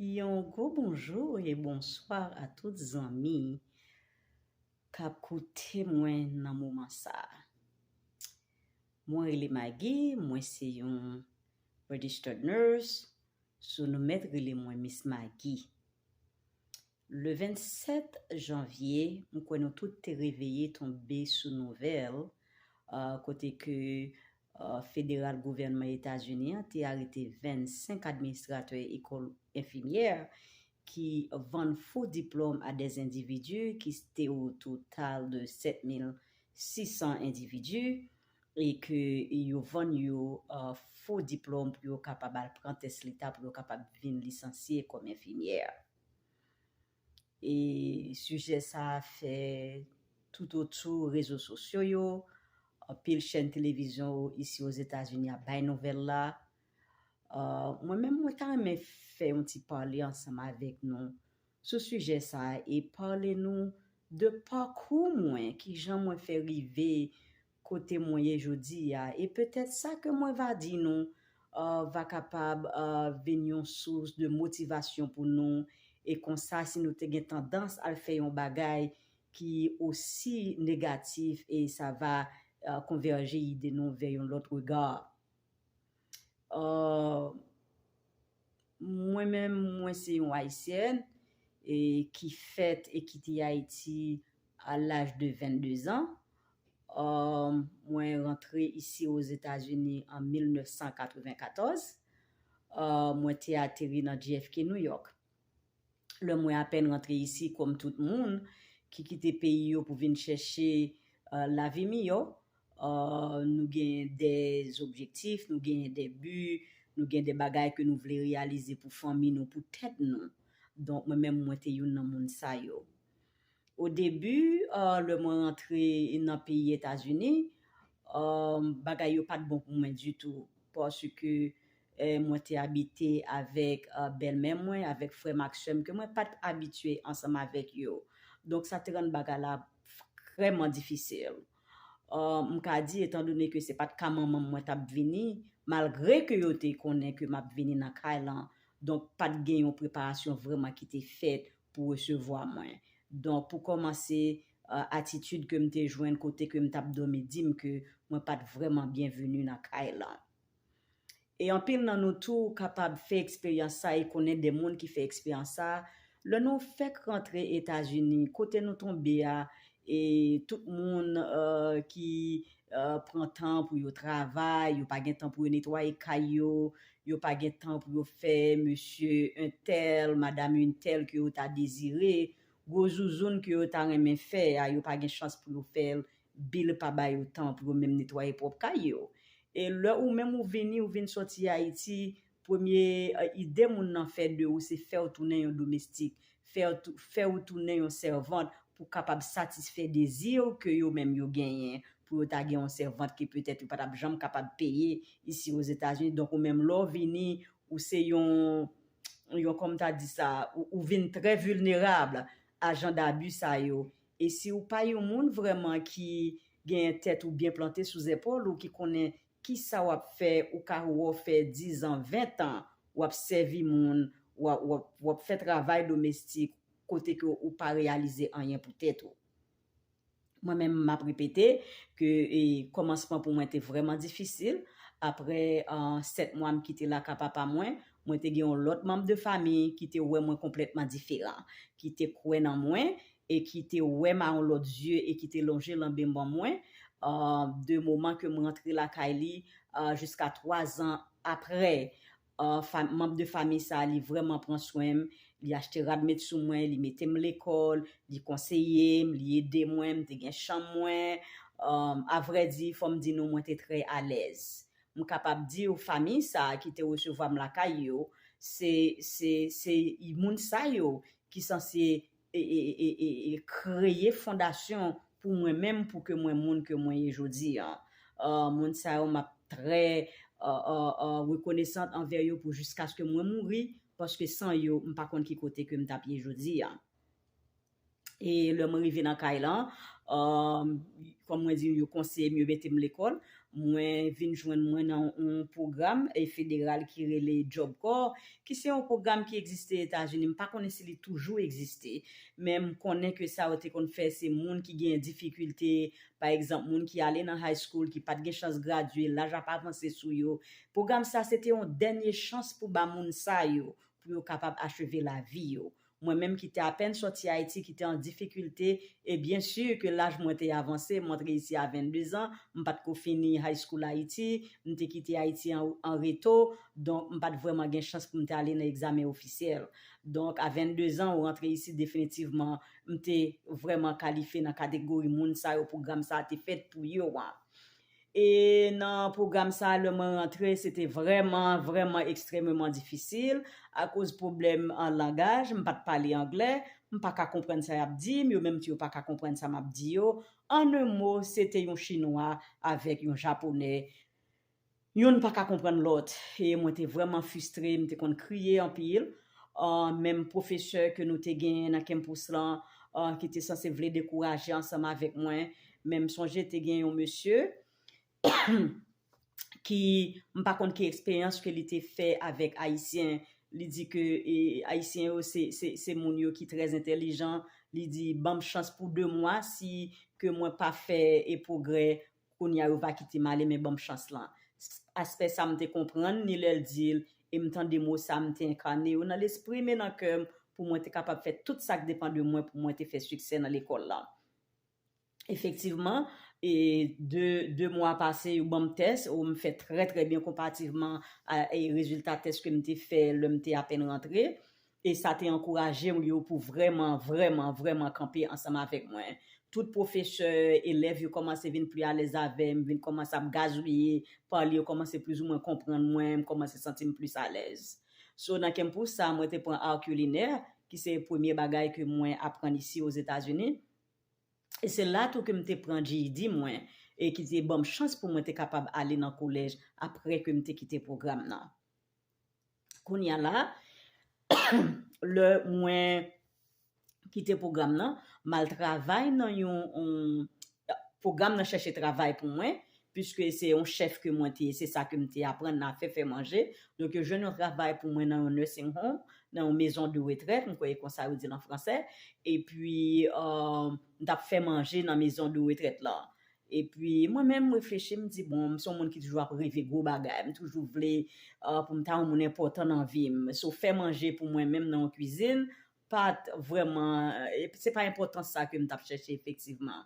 Yon gwo bonjou e bonswa a tout zanmi kap koute mwen nan moman sa. Mwen rele Maggie, mwen se yon Registered Nurse, so nou mèt rele mwen Miss Maggie. Le 27 janvye, m kwè nou tout te reveye tonbe sou nouvèl kote ke federal gouvènman Etazini an te arete 25 administratè ekòl enfimyè ki vann fo diplòm a des endividi ki te o total de 7,600 endividi e ke yo vann yo fo diplòm pou yo kapab al pran tès leta pou yo kapab vin lisansye kòm enfimyè. E sijè sa fè toutotou rezo sosyo yo, anpil chèn televizyon isi Ozetazini ap bay nouvèl la. Mwen menm mwen ta renmen fè yon ti pale ansanm avèk nou sou sijè sa e pale nou de pakou mwen, kijan mwen fè rive Kote mwen ye jodi a, e petèt sa ke mwen va di nou va kapab vin yon sous de motivasyon pou nou, e konsa si nou te gen tandans al fè yon bagay ki osi negatif e sa va konvèje ide nou vè yon lòt regard. Mwen menm mwen se yon Ayisyèn e ki fèt e kite Ayiti a laj de 22 zan. Mwen rantre isi Ozetazini an 1994. Mwen te ateri nan JFK New York. lè mwen apèn rantre isi kòm tout moun ki kite peyi yo pou vin chèche lavi miyò, nou gen dè objektif, nou gen dè bi, nou gen dè bagay ke nou vle reyalize pou fanmi nou, pou tèt nou. Donk mwen menm mwen te youn nan moun sa yo. Au début lè mwen rantre nan peyi etazini bagay yo pat bon pou mwen ditou paske mwen te abite avèk bèlmè mwen avèk frèm ak sèm ke mwen pat abitye ansanm avèk yo donk sa te rann bagay la vrèman difisil m ka di etan done ke se pat ka manmanm mwen tap vini malgre ke yo te konnen ke map vini nan kay lan donk pat gen yon preparasyon vrèman ki te fèt pou resevwa mwen. Donk pou kòmanse atitid ke m te jwenn kote ke m t ap dòmi di m ke mwen pa t vrèman byenveni nan kay lan. E anpil nan nou tou kapab fè eksperyans sa e konnen de moun ki fè eksperyans sa, lè nou fèk rantre Etazini, kote nou tonbe a E tout moun ki pran tan pou yo travay, yo pa gen tan pou yo netwaye kay yo, yo pa gen tan pou yo fè mesye entèl, madam entèl ke yo ta dezire, gwo zouzoun ke yo ta renmen fè a, yo pa gen chans pou yo fè l, bil pa ba yo tan pou yo menm netwaye pwòp kay yo. E lè ou menm ou vini, ou vin sòti Ayiti, Premye ide moun nan fè de ou se fè w tounen yon domestik, fè ou tounen yon sèvant pou kapab satisfè dezi w ke yo menm yo genyen pou yo ta gen yon sèvant ke petèt yo pa t ap janm kapab peye isi Ozetazini. Donk ou menm lè w vini, ou se yon, yon kòm ta di sa, ou vin trè vilnerab a jan dabi sa yo. E si ou pa yon moun vrèman ki genyen tèt ou byen plante sou zèpòl ou, ki konnen Kisa wap fè ou ka wou fè 10 ans 20 ans wap sèvi moun wap fè travay domestik kote ke ou pa reyalize anyen pou tèt ou mwen menm map repete ke kòmansman pou mwen te vrèman difisil aprè 7 mwa m kite la ka papa mwen mwen te gen yon lòt manm de fami ki te wè mwen konplètman diferan ki te kwè nan mwen e ki te wè m a yon lòt zye e ki te lonje lanbe man mwen de moman ke m rantre lakay li jiska 3 zan aprè manb de famiy sa li vrèman pran swen m li achte rad met sou mwen li mete m lekòl li konseye m li ede mwen m te gen chanm mwen avrèdi fò m di nou mwen te trè alèz m kapab di w famiy sa ki te resevwa m lakay yo se se se moun sa yo ki sanse e kreye fondasyon pou mwen menm pou ke mwen moun ke mwen ye jodi an. Moun sa yo map trè rekonesant anvè yo pou jiskaske mwen mouri paske san yo m pa konn ki kote ke m tap ye jodi an. E lè mwen rive nan kay lan, kòm mwen di yo konseye m yo mete m lekòl, Mwen vin jwenn mwen nan yon pwogram federal ki rele Job Corps, ki se yon pwogram ki egziste Etazini, m pa konnen si li toujou egziste, men m konnen ke sa yo te konn fè se moun ki genyen difikilte, pa egzanp moun ki ale nan high school, ki pa t gen chans gradye, laj ap avanse sou yo. Pwogram sa se te yon dènye chans pou ba moun sa yo, pou yo kapab acheve lavi yo. Mwen menm ki te apèn sòti Ayiti, ki te an difikilte, e byen si ke laj mwen te avanse, m antre isi a 22 zan, m pa t ko fini high school Ayiti, m te kite Ayiti an reto, donk m pa t vrèman gen chans pou m te ale nan egzamen ofisyèl. Donk a 22 zan ou rantre isi definitivman m te vrèman kalifye nan kategori moun sa yo pwogram sa a te fèt pou yo an. E nan pwogram sa lè mwen rantre se te vrèman, vrèman ekstrememan difisil akoz pwoblèm langaj, m pa t pale anglè, m pa ka konprann sa y ap di m, yo menm tou yo pa ka konprann sa m ap di yo. An un mo, se te yon chinwa avèk yon japonè, youn pa ka konprann lòt e mwen te vrèman fistre, m te konn kriye anpil. menm pwofesè ke nou te genyen nan kenpous lan ki te sanse vle dekouraje ansanm avèk mwen, men m sonje te gen yon mesye ki m pa konn ki eksperyans ke li te fè avèk Ayisyen, li di ke Ayisyen yo se moun yo ki trè entèlijan, li di banm chans pou 2 mwa si ke mwen pa fè pwogrè Kounya yo va kitem ale men banm chans lan psst aspè sa mte konprann ni lèl dil em tande mo sa mte enkane yo nan lesprim e nan kèm pou mwen te kapab fè tout sak depan de mwen pou mwen te fè siksè nan lekòl lan efektivman e de de mwa pase yo banm tès o mfè trè trè byen konpativman a rezilta tès kem te fè lèm te apèn rantre E sa te ankouraje m yo pou vrèman, vrèman, vrèman kanpe ansanm avèk mwen. Tout pwofesè, elèv yo kòmanse vin pli alèz avè m, vin kòmanse ap gazouye, pale, yo kòmanse plizoumwen konprann mwen, m kòmanse santi m plis alèz. So, nan kè m pou sa, mwen te pran Art Culinaire, ki se premye bagay ke mwen aprann isi Ozetazini. E se la tou ke m te pran GED mwen, e ki te ban m chans pou mwen te kapab ale nan kolèj apre ke m te kite pwogram nan. Kounya la, lè mwen kite pwogram nan, m al travay nan yon, pwogram nan chèche travay pou mwen, piske se yon chèf ke mwen te, se sa ke m te aprann nan afè fè manje, donk yo jwenn yon travay pou mwen nan yon nursing home, nan yon mezon de retrèt, m kwè e konsa yo di l an fransè, epi m t ap fè manje nan mezon de retrèt lan. Epi mwen menm m reflechi m di bon m son moun ki toujou ap reve gwo bagay, m toujou vle pou m ta yon moun enpòtan nan vi m, so fè manje pou mwen menm nan yon kwizin pat vrèman se pa enpòtans sa ke m tap chèche efektivman.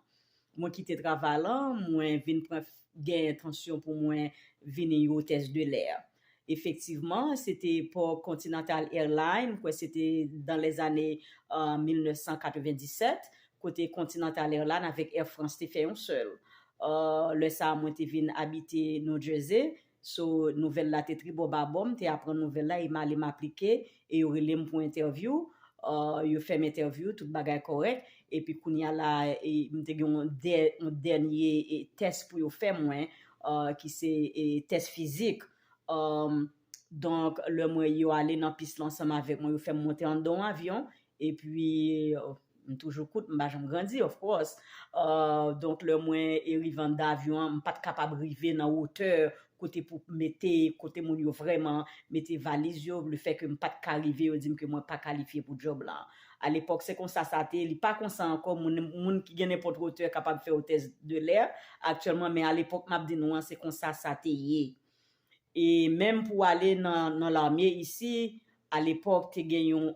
Mwen kite travay lan mwen vin pran gen entansyon pou mwen vini yon otès de lè. Efektivman, se te epòk Continental Airlines, m kwè se te dan lèzane 1997, kote Continental Airlines avèk Air France te fè yon sèl. Lè sa a mwen te vin abite New Jersey, so nouvèl la te tribò babò, m te aprann nouvèl la e m ale m aplike e yo rele m pou entèvyou, yo fè m entèvyou, tout bagay kòrèk, epi kounye a la m te gen yon dènye tès pou yo fè mwen ki se tès fizik, donk lè mwen yo ale nan pis la ansanm avèk mwen, yo fè m monte anndan yon avyon, Epi m toujou kout, m pa janm grandi of course. Donk lè mwen eri van davyon an, m pa t kapab rive nan wotè kote pou mete, kote moun yo vrèman mete valiz yo, le fè ke m pa t ka rive yo di m ke mwen pa kalifye pou djòb la. A lepòk se konsa sa te, li pa konsa ankò, moun ki gen nenpòt wotè kapab fè w tès de lè aktyèlman men a lepòk m ap di nou an se konsa sa te ye. E menm pou ale nan nan lame isi a lepòk te gen yon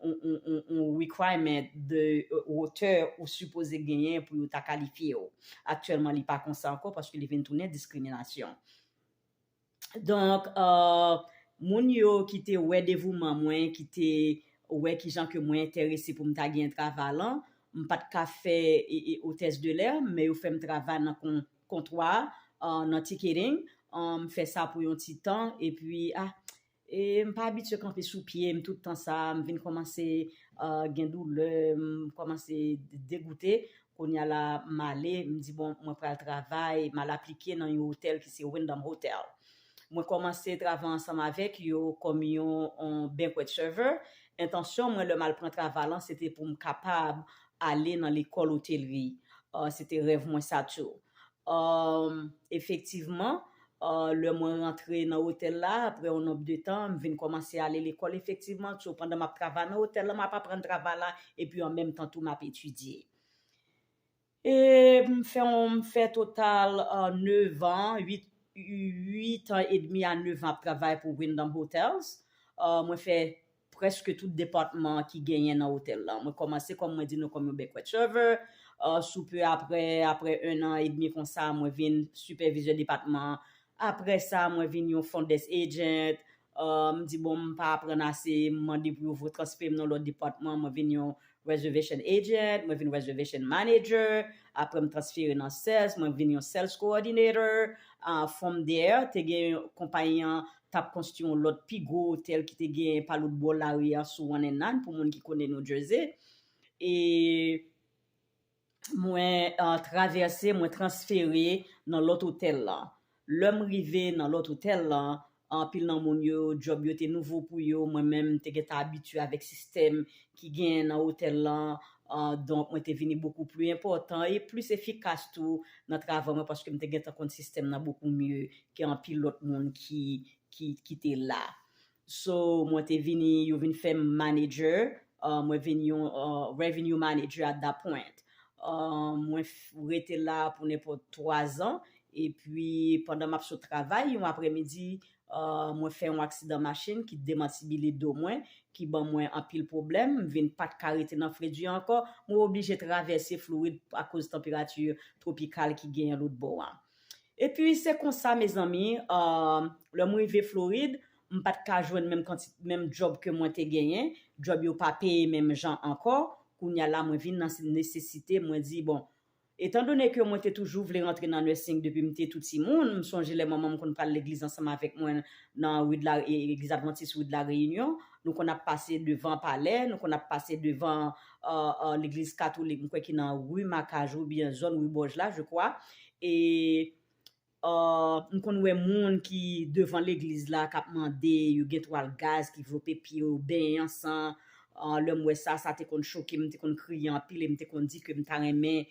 yon requirement de wotè ou sipoze genyen pou yo ta kalifye w. Aktyèlman li pa konsa ankò paske li vin tounen diskriminasyon. Donk moun yo ki te wè devouman mwen, ki te wè kijan ke mwen enterese pou m ta gen travay lan, m pa t ka fè otès de lè, men yo fè m travay nan Kontwa nan ticketing, m fè sa pou yon ti tan, epi ah e m pa abitye kanpe sou pye m tout tan sa, m vin kòmanse gen doulè, m kòmanse degoute, kounya la m ale, m di bon mwen pral travay, m al aplike nan yon otèl ki se Wyndham Hotel. Mwen kòmanse travay ansanm avèk yo kòm yon banquet server. Entansyon mwen lè m al pran travay lan se te pou m kapab ale nan lekòl otelri. Se te rèv mwen sa tou. Efektivman, lè mwen rantre nan otèl la, aprè yon nonb de tan, m vin kòmanse ale lekòl efektivman tou pandan m ap travay nan otèl lan, m ap aprann travay la epi an menm tan tou m ap etidye. E m fè yon m fè total 9 an, 8 8 an edmi a 9 an ap travay pou Wyndham Hotels. Mwen fè prèske tout depatman ki genyen nan otèl la. Mwen kòmanse kòm mwen di nou kòm yon banquet server, sou peu aprè, aprè 1 an edmi konsa mwen vin sipèvizè depatman, aprè sa mwen vin yon front desk agent, Ahh m di bon m pa aprann ase m mande pou yo votransfere m nan lòt depatman mwen vin yon reservation agent mwen vin reservation manager aprè m transfere nan sales mwen vin yon sales coordinator ahh from there te gen konpayi an tap konstwi yon lòt pi gwo otèl ki te gen pa lòt bò lari a sou one and nine pou moun ki konnen New Jersey e mwen travèse, mwen transfere nan lòt otèl lan. Lè m rive nan lòt otèl lan, anpil nan moun yo, djòb yo te nouvo pou yo, mwen menm m te gentan abitye avèk sistèm ki genyen nan otèl lan, donk mwen te vini bokou pli enpòtan e plis efikas tou nan travay mwen paske m te gentan konn sistèm nan bokou mye ke anpil lòt moun ki te la. So mwen te vini yo vin fèm manager mwen vin yon revenue manager at that point mwen rete la pou nenpòt 3 zan epi pandan map sot travay yon aprè midi mwen fè yon aksidan machin ki demantibile do mwen ki ban mwen anpil pwoblèm m vin pat ka rete nan Fredia ankò mwen oblije travèse Florid akoz tanperati tropikal ki genyen lotbò a Epi se konsa mezanmi aah lèm rive florid m pat ka jwenn menm kantite menm djòb ke mwen te genyen djòb yo pa peye menm jan ankò kounya la mwen vin nan nesesite mwen di bon etan done ke mwen te toujou vle rantre nan nursing depi m te tou timoun m sonje lè manmanm konn pral legliz ansanm avèk mwen nan rue de la legliz advantis rue de la réunion nou konn ap pase devan palè nou konn ap pase devan legliz katolik mwen kwè ki nan rue Macajou ou byen zòn rue Boj la je kwa e mkonn wè moun ki devan legliz la kap mande yo gen twal gaz ki vlope pye yo benyen an san lèm wè sa sa te konn chokem mte konn kriye anpil em te konn di kem ta renmen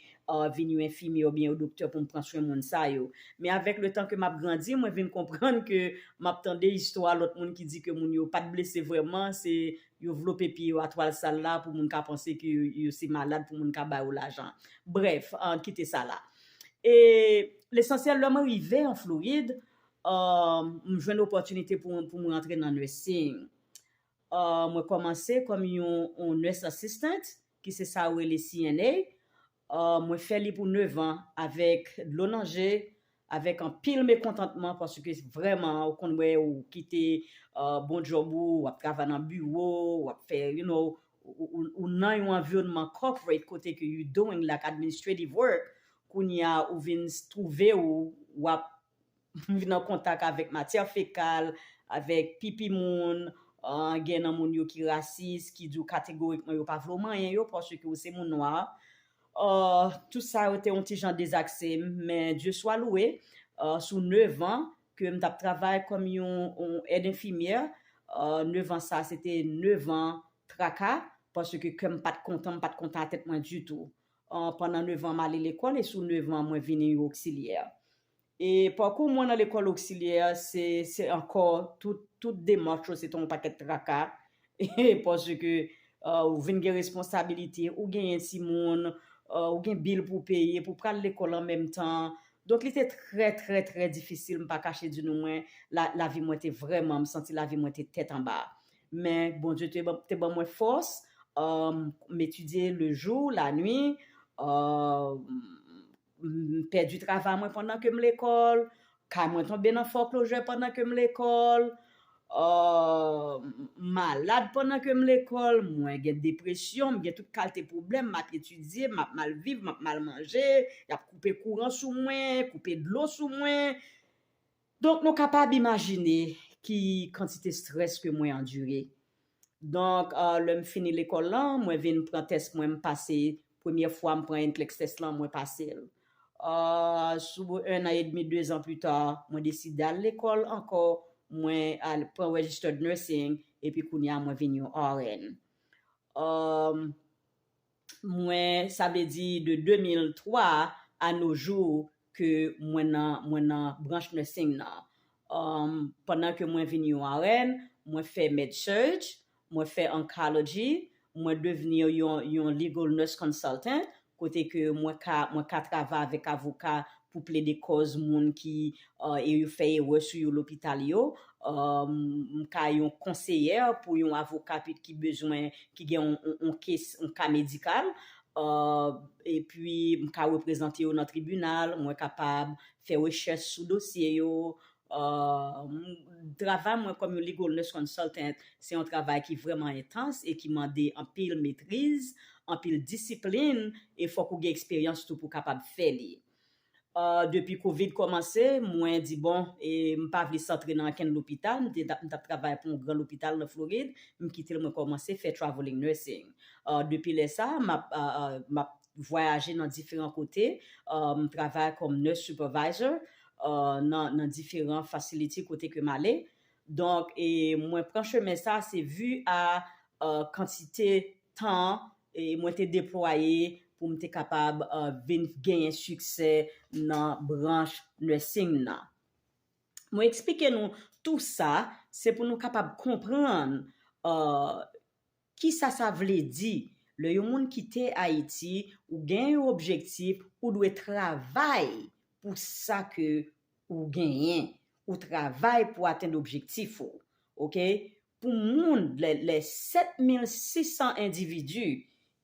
vin yon enfimyè ou byen yon doktè poum pran swen moun sa yo men avèk le tan ke map grandi mwen vin konprann ke map tande istwa lòt moun ki di ke moun yo pat blese vrèman se Yo vlope pye yo a twal sal la pou moun ka panse ke yo se malad pou moun ka ba yo lajan. Brèf, an kite sa la. E lesansyèl lè mwen rive an Florid, m jwenn opòtinite pou m rantre nan nursing. Mwen kòmanse kòm yon nurse assistant ki se sa yo rele CNA. Ahh mwen fè li pou 9 ans avèk dlo nan je, avèk anpil mekontantman paske vrèman ou konn wè ou kite bon job ou, wap travay nan biwo, wap fè you know, ou nan yon anviwònman corporate kote ke you doing like administrative work, kounya ou vin twouve ou wap vin an kontak avèk matyè fekal, avèk pipi moun, gen nan moun yo ki rasis, ki di w kategorikman yo pa vle w manyen yo paske w se moun nwa. Tout sa yo te yon ti jan dezakse m, men Dye swa louwe, sou nevan ke m t ap travay kòm yon èd enfimyè, nevan sa se te nevan traka, paske kè m pa t kontan, m pa t kontan a tèt mwen ditou. Pandan nevan m ale lekòl e sou nevan mwen vini yon oksilyè. E pakou mwen nan lekòl oksilyè se se ankò tout demach yo se te yon pakèt traka paske ou vin gen responsabilite, ou genyen timoun, ou gen bil pou peye, pou pral lekòl an menm tan. Donk li te trè trè trè difisil m pa kache di nou mwen lavi mwen te vrèman m santi lavi mwen te tèt anba. Men Bondye te ban mwen fòs, m etidye lejou, lanwi, m pèdi travay mwen pandan ke m lekòl, kay mwen tonbe nan fòklojè pandan ke m lekòl, m malad pandan ke m lekòl, mwen gen depresyon, m gen tout kalte pwoblèm, m ap etidye, m ap mal viv, m ap mal manje, y ap koupe kouran sou mwen, koupe dlo sou mwen. Donk nou kapab imajine ki kantite strès ke mwen andire. Donk lè m fini lekòl lan, mwen vin pran tès mwen m pase, premye fwa m pran NCLEX tès lan mwen pase l. Sou 1 an edmi, 2 zan pita, mwen deside al lekòl ankò, mwen al pran registered nursing epi kounye a mwen vin yon RN. mwen sa vle di de 2003 a no jou ke mwen nan mwen nan branch nursing nan um pandan ke mwen vin yon RN mwen fè med surg mwen fè oncology mwen devni yon yon legal nurse consultant kote ke mwen ka mwen ka travay avèk avoka pou plede kòz moun ki e yo fè erè sou yo lopital yo m ka yon konseyè pou yon avoka pi ki bezwen ki gen yon kes yon ka medikal epi m ka reprezante yo nan tribinal mwen kapab fè rechèch sou dosye yo Travay mwen kòm yon Legal Nurse Consultant se yon travay ki vrèman entans e ki mande anpil metriz, anpil disiplin e fòk ou gen eksperyans tou pou w kapab fè li. Depi covid kòmanse, mwen di bon, m pa vle santre nan ankenn lopital, m t ap travay pou yon gran lopital nan Florid, m kite l mwen kòmanse fè Travelling Nursing. Depi lè sa, m ap vwayaje nan diferan kote, m travay kòm nurse supervisor nan diferan facility kote ke m ale. Donk e mwen pran chemen sa se vi a kantite tan mwen te deplwaye pou m te kapab vin genyen siksè nan branch nursing nan. Mwen eksplike nou tou sa se pou nou kapab konprann Kisa sa vle di? Lè yon moun kite Ayiti, ou gen yon objektif, ou dwe travay pou sa ke ou genyen. Ou travay pou atenn objektif ou. Ok? Pou moun, lè 7,600 endividi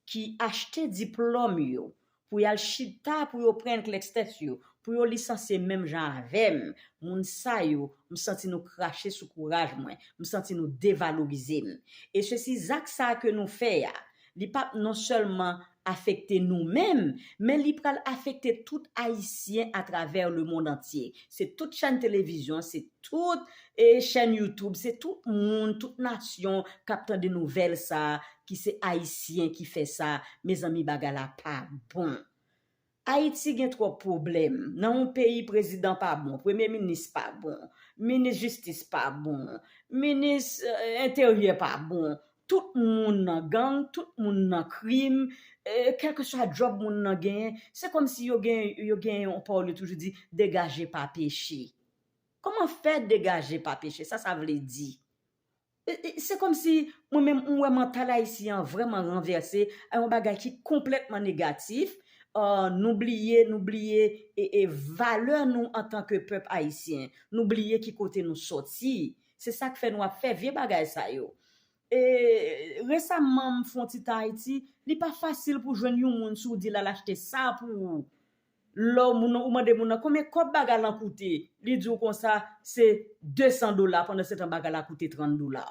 ki achte diplòm yo pou yal chita pou yo pran klèks tèt yo, pou yo lisansye menm jan avèm, moun sa yo, m santi nou krache sou kouraj mwen, m santi nou devalorize m. E se si zak sa ke nou fè a, li pap non sèlman afekte nou menm, men li pral afekte tout ayisyen atravè le mond antye. Se tout chèn televizyon, se. Tout e chèn YouTube se tout moun tout nasyon kap tande nouvèl sa ki se ayisyen ki fè sa mezanmi bagay la pa bon ayiti gen tròp pwoblèm nan yon peyi prezidan pa bon premye minis pa bon minis jistis pa bon minis enteryè pa bon tout moun nan gang tout moun nan krim kèlkeswa djòb moun nan genyen se kòmsi yo gen yo gen yon pawòl yo toujou di degaje pa peche. Koman fè degaje pa peche sa sa vle di? Se kòm si mwen menm m wè mantal ayisyen an vrèman ranvèse a yon bagay ki konplètman negatif, nou bliye nou bliye e valè nou antan ke pèp ayisyen, nou bliye ki kote nou sòti, se sak fè nou ap fè vye bagay sa yo. E resamman m fon ti tan Ayiti, li pa fasil pou jwenn yon moun si w di l al achte sa pou ou, Lè w moun ou mande moun nan konbyen kòb baga lan koute li di w konsa se 200 dola pandan se tan baga la koute 30 dola.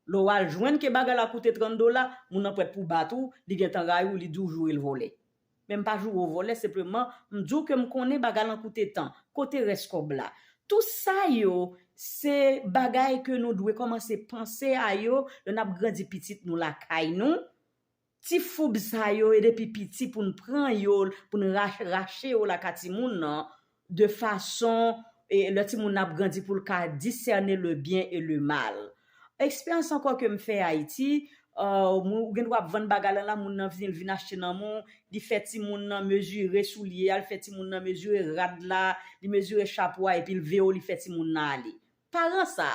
Lè w al jwenn ke baga la koute 30 dola moun nan prèt pou bat ou li gentan rayi w li di w joure l vòlè. Men m pa joure w vòlè senpleman m di w ke m konnen baga lan koute tan. Kote rès kòb la? Tou sa yo se bagay ke nou dwe kòmanse panse a yo lè n ap grandi pitit nou lakay nou Ti foub sa yo e depi piti poun pran yo poun rache yo laka timoun nan de fason lè timoun nan ap grandi poul ka disène le byen e le mal. Eksperyans ankò kem fè Ayiti, ou gen dwa ap vann bagay lan la moun nan vini li vin achte nan men w, li fè timoun nan mezire soulye a, li fè timoun nan mezire rad la, li mezire chapo a epil veye w li fè timoun nan ale. Paran sa,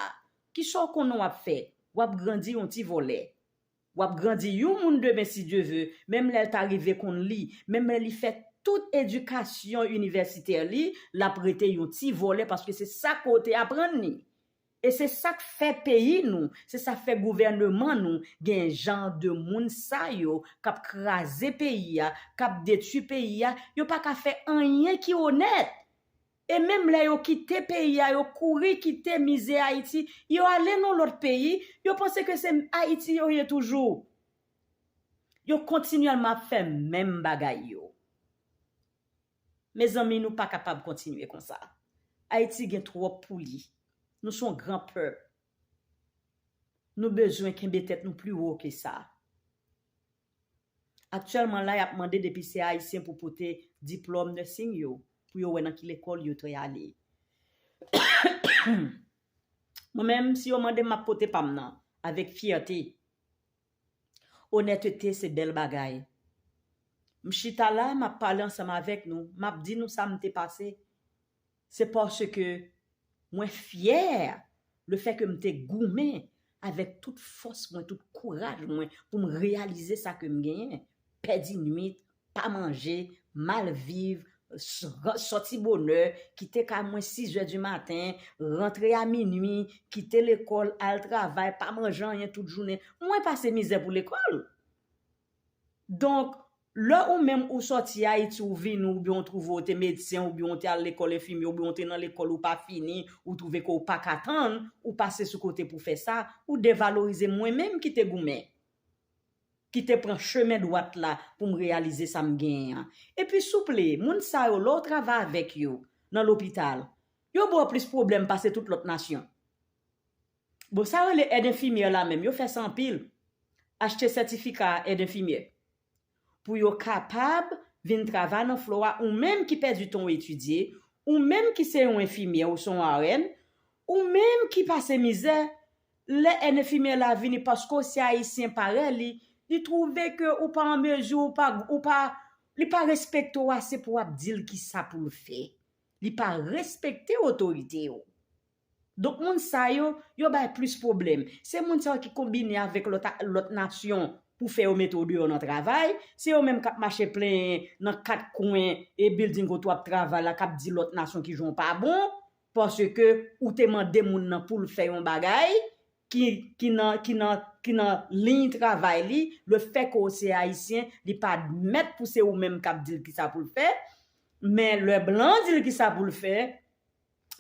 kisa w konnen wap fè? Wap grandi yon ti vòlè. Wap grandi yon moun demen si Dye ve, menm lèl ta rive konn li, menm lè li fè tout edikasyon inivèsitè li, lap rete yon ti vòlè paske se sa ke w te aprann li. E se sak fè peyi nou, se sa fè gouvèneman nou gen jan de moun sa yo kap kraze peyi a, kap detui peyi a, yo paka fè anyen ki onèt! E menm lè yo kite peyi a, yo kouri kite mize Ayiti, yo ale nan lòt peyi, yo panse ke se Ayiti yo ye toujou. Yo kontinyèlman ap fè menm bagay yo. Mezanmi nou pa kapab kontinye konsa. Ayiti gen twòp pou li. Nou se yon gran pèp. Nou bezwen kenbe tèt nou pli wo ke sa. Aktyèlman la yap mande depi se ayisyen pou pote diplòm nursing yo pou yo wè nan ki lekòl yo dre ale. Mwen menm si yo mandem map pote pam nan avèk fyète. Onètete se bèl bagay. M chita la map pale ansanm avèk nou, map di nou sa m te pase. Se paske mwen fyè lefèke m te goumen avèk tout fòs mwen, tout kouraj mwen pou m reyalize sa ke m genyen, pèdi nwit, pa manje, mal viv, sòti bonè, kite kay mwen sizè di maten, rantre a minui, kite lekòl, al travay, pa manje anyen tout jounen. Mwen pase mizè pou lekòl! Donk, lè ou menm ou sòti Ayiti ou vini ou byen ou twouve ou te medsen ou byen ou te al lekòl enfimye ou byen ou te nan lekòl ou pa fini ou twouve ke ou pa ka tann ou pase sou kote pou fè sa ou devalorize mwen menm ki te goumen ki te pran chemen dwat la pou m reyalize sa m genyen an. Epi souple, moun sa yo lè w travay avèk yo nan lopital yo ba w plis pwoblèm pase tout lòt nasyon. Bon sa rele èd enfimyè la menm yo fè sa anpil achte sètifika èd enfimyè pou yo kapab vin travay nan flo a ou menm ki pèdi tan w etidye ou menm ki se yon enfimyè ou se yon RN ou menm ki pase mizè lè èd enfimyè la vini paske w se ayisyen parèy li li twouve ke ou pa an mezi ou pa ou pa li pa respekte w ase pou w ap di l kisa pou l fè li pa respekte otorite yo Donk moun sa yo, yo bay plis pwoblèm. Se moun sa yo ki konbine avèk lòt nasyon pou fè yo mete w deyò nan travay, se yo menm k ap mache plenyen nan kat kwen e bilding kote w ap travay la k ap di lòt nasyon ki jan w pa bon paske ou te mande moun nan pou l fè yon bagay ki nan liy travay li, lefètke w se Ayisyen, li pa admèt pou se ou menm k ap di l kisa pou l fè, men lè blan di l kisa pou l fè,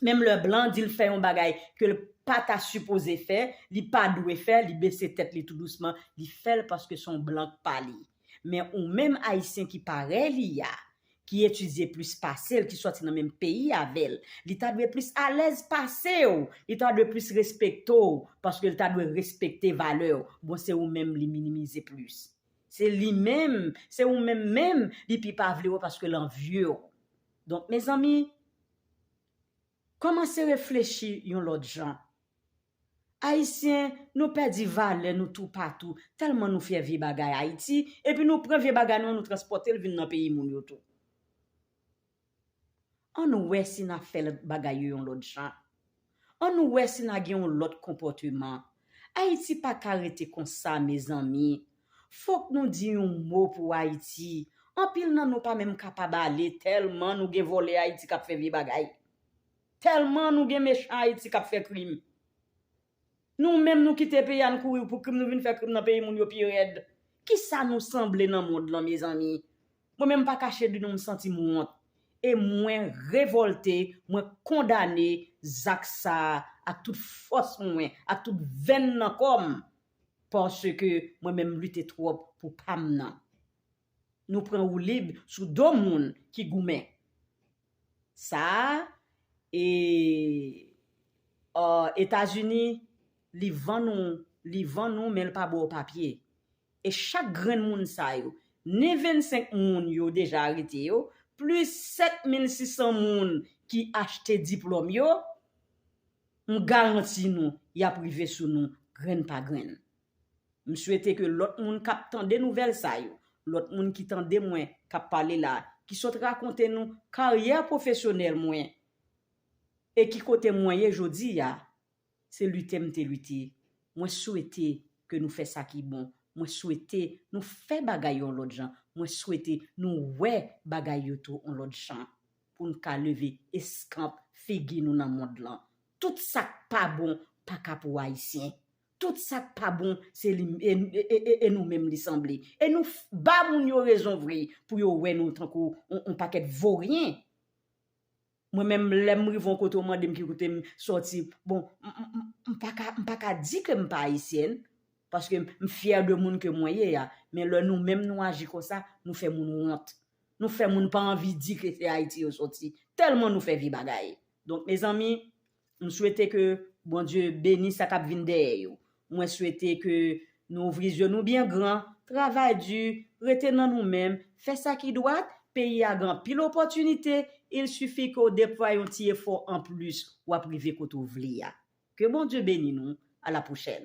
menm lè blan di l fè yon bagay ke l pa ta sipoze fè, li pa dwe fè, li bese tèt li tou dousman, li fè l paske se yon blan k pa li. Men ou menm Ayisyen ki parèy li a, ki etidye plis pase l, ki sòti nan menm peyi avè l, li ta dwe plis alèz pase w, li ta dwe plis respekte w, paske l ta dwe respekte valè w, bon se ou menm li minimize plis. Se li menm, se ou menm menm li pi pa vle wè paske l anvye w. Donk mezanmi, kòmanse reflechi yon lòt jan. Ayisyen, nou pèdi valè nou toupatou, tèlman nou fyè vye bagay Ayiti, epi nou pran vye bagay nou an nou transpòte l vin nan peyi moun yo tou. Ann wè si n ap fè bagay yo yon lòt jan. An nou wè si na gen yon lòt konpòteman. Ayiti pa ka rete konsa mezanmi. Fòk nou di yon mo pou Ayiti. Anpil nan nou pa menm kapab ale tèlman nou gen vòlè Ayiti k ap fè vye bagay. Tèlman nou gen mechan Ayiti k ap fè krim. Nou menm nou kite peyi a n kouri pou krim nou vin fè krim nan peyi moun yo pi rèd. Kisa nou sanble nan mond lan mezanmi. Mwen menm pa kache di nou m santi m wont e mwen revolte mwen kondane zak sa ak tout fòs mwen ak tout venn nan kò m paske mwen menm lite twòp pou pa m nan nou pran woulib sou do moun ki goumen sa e ò etazini li vann ou li vann ou men l pa ba w papye E chak grenn moun sa yo, ni 25 moun yo deja arete yo, plis 7600 moun ki achte diplòm yo, m garanti nou y ap rive sou nou grenn pa grenn. M swete ke lòt moun k ap tande nouvèl sa yo, lòt moun ki tande mwen k ap pale la, ki sot rakonte nou karyè pwofesyonèl mwen e ki kote mwen ye jodi a, Se lite m te lite. Mwen swete ke nou fè sa ki bon. Mwen swete nou fè bagay yon lòt jan. Mwen swete nou wè bagay yo tou yon lòt jan. Pou n ka leve eskanp figi nou nan mond lan. Tout sa k pa bon pa ka pou Ayisyen. Tout sa k pa bon se li e nou menm li sanble. E nou ba moun yo rezon vre pou yo wè nou tankou yon pakèt voryen. Mwen menm lèm rive yon kote ou mandem ki kote m sòti bon m paka m paka di ke m pa ayisyèn paske m fyè de moun ke mwen ye a men lè nou menm nou aji konsa nou fè moun wont nou fè moun pa anvi di ke se ayiti yo sòti tèlman nou fè vye bagay donk mezanmi M swete ke Bondye beni sa kap vin dèyè yo. Mwen swete ke nou ouvri zye nou byen gran, travay di, rete nan nou menm, fè sa ki dwat, peyi a gen anpil opòtinite, il suffit ke w deplwaye yon ti efò an plis wap rive kote w vle a. Ke Bondye beni nou, a la pwochèn.